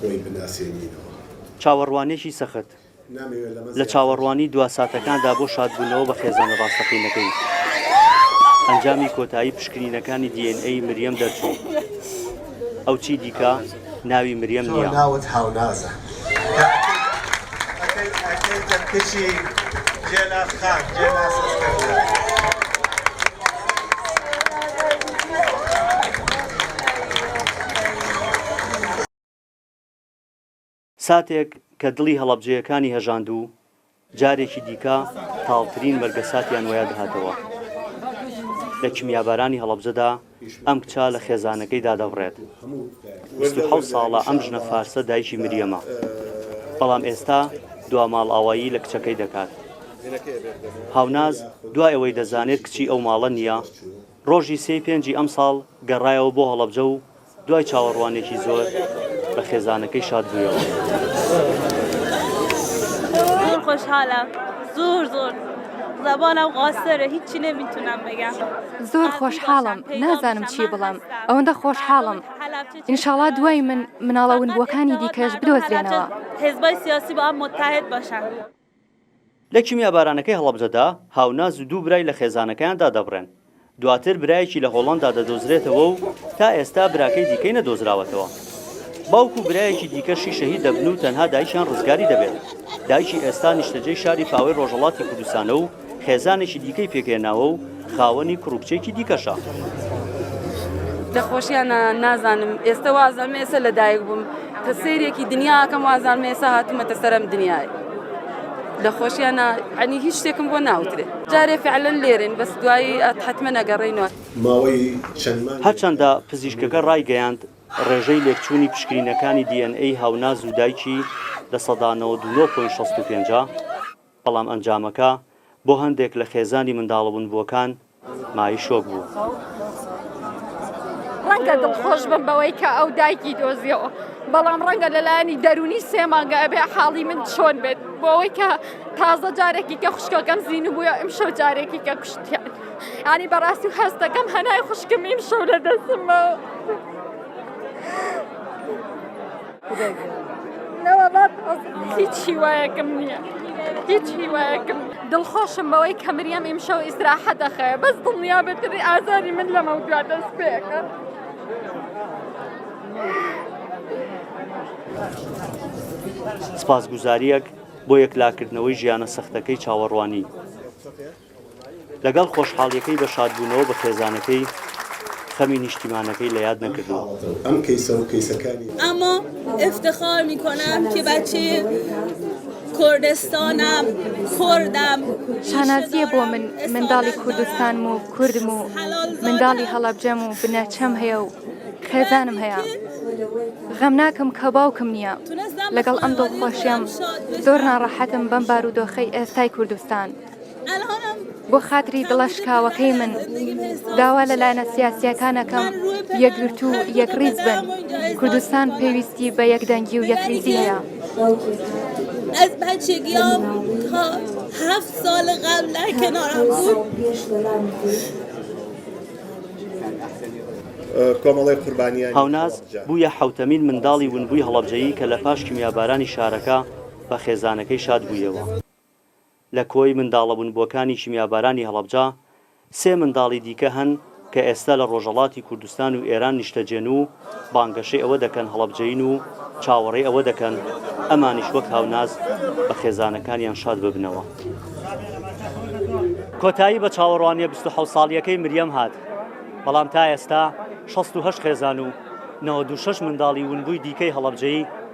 خۆی بناسێنینەوە. چاوەڕوانێکی سەخت لە چاوەڕوانی دوا ساتەکاندا بۆ شادبوونەوە بە خێزانە ڕاستەقینەکەی. ئەنجامی کۆتایی پشکنینەکانی دی ئێن ئەی مریەم دەرچوو. ئەو چی دیکە ناوی مریەم نییە. ساتێک کە دڵی هەڵەبجەیەکانی هەژاند و جارێکی دیکە تاڵترین مەرگەساتیان وەیادهاتەوە لە کیمیابارانی هەڵەبجەدا، ئەم کچە لە خێزانەکەی دادەبڕێت بیست و حەوت ساڵە ئەم ژنە فارسە دایکی مریەمە بەڵام ئێستا دوا ماڵئاوایی لە کچەکەی دەکات هاوناز دوای ئەوەی دەزانێت کچی ئەو ماڵە نییە ڕۆژی سێی پێنجی ئەم ساڵ گەڕایەوە بۆ هەڵەبجە و دوای چاوەڕوانێکی زۆر بە خێزانەکەی شاد بوویەوە. زۆر خۆشحالە زۆر زۆر. زۆر خۆشحاڵم نازانم چی بڵێم ئەوەندە خۆشحاڵم ئینشاڵا دوای من مناڵە ونبووەکانی دیکەش بدۆزرێنەوە. لە کیمیابارانەکەی هەڵەبجەدا، هاوناز و دوو برای لە خێزانەکەیان دادەبڕێن. دواتر برایەکی لە هۆڵەندا دەدۆزرێتەوە و تا ئێستا براکەی دیکەی نەدۆزراوەتەوە. باوک و برایەکی دیکەشی شەهید دەبن و تەنها دایکیان ڕزگاری دەبێت. دایکی ئێستا نیشتەجێی شاری پاوەی ڕۆژهەڵاتی کوردستانە و خێزانێکی دیکەی پێکهێناوە و خاوەنی کوڕ و کچێکی دیکەشە. دەخۆشیانە نازانم ئێستە وازانم ئێسە لەدایک بووم. کە سەیرێکی دنیا ئەکەم وازانم ئێستا هاتوومەتە سەر ئەم دنیای لە خۆشیان نا یعنی هیچ شتێکم بۆ ناوترێ جارێ فعلا لێرەین بەس دوایی ئەت حەتمە نەگەڕێینەوە. هەرچەندە پزیشکەکە ڕایگەیاند، ڕێژەی لێکچوونی پشکنینەکانی دی ئێن ئەی هاوناز و دایکی لە سەدا نەوەد و نۆ پۆینت شەست و پێنج ە، بەڵام ئەنجامەکە بۆ هەندێک لە خێزانی منداڵە ونبووەکان مایەی شۆک بوو. ڕەنگە دڵخۆش بم بەوەی کە ئەو دایکی دۆزیەوە، بەڵام ڕەنگە لە لایەنی دەروونی سێ مانگە ئەبێ حاڵی من چۆن بێت بۆ ئەوەی کە تازە جارێکی کە خوشکەکەم زینبووە ئیمشەو جارێکی کە کوشتیان ینی بەڕاستی و هەستەکەم هەنای خوشکم ئیمشەو لە دەستمەوە. هیچ هیوایەکم نییە هیچ هیوایەکم دڵخۆشم بەوەی کە مریەم ئیمشەو ئیسراحە دەخەیە بەس دڵنیا بەتری ئازاری من لەمە دوا دەست پێەکە. سپاسگوزاریەک بۆ یەکلاکردنەوەی ژیانە سەختەکەی چاوەڕوانی لەگەڵ خۆشحاڵیەکەی بە شادبوونەوە بە خێزانەکەی خەمی نیشتیمانەکەی لە یاد نەکردووە. اما افتخار میکنم که بچه کردستانم کردم شانازیە بۆ من منداڵی کوردستانم و کوردم و منداڵی هەڵەبجەم و بنەچەم هەیە و خێزانم هەیە غەم ناکەم کە باوکم نییە لەگەڵ ئەم دڵخۆشیەم زۆر ناڕەحەتم بەم بارودۆخەی ئێستای کوردستان. بۆ خاتری دڵە شکاوەکەی من داوا لە لایەنە سیاسیەکانەکەم یەکگرتو و یەکڕیز بن کوردستان پێویستی بە یەکدەنگی و یەکریزی هەیە. از بچگیام تا هفت سال قبل در کنارم بود کۆمەڵی قوربانیە هاوناز بووە حوتەمین منداڵی ونبووی هەڵەبجەیی کە لە پاش کیمیابارانی شارەکە بە خێزانەکەی شاد بوویەوە. لە کۆی منداڵە ونبووەکانی کیمیابارانی هەڵەبجە، سێ منداڵی دیکە هەن کە ئێستا لە ڕۆژەڵاتی کوردستان و ئێران نیشتەجێن و بانگەشەی ئەوە دەکەن هەڵەبجەیین و چاوەڕێی ئەوە دەکەن ئەمانیش وەک هاوناز بە خێزانەکانیان شاد ببنەوە. کۆتایی بە چاوەڕوانییە بیست و حەوت ساڵییەکەی مریەم هات، بەڵام تا ئێستا شەست و هەشت خێزان و نەوەد و شەش منداڵی ونبووی دیکەی هەڵەبجەیی،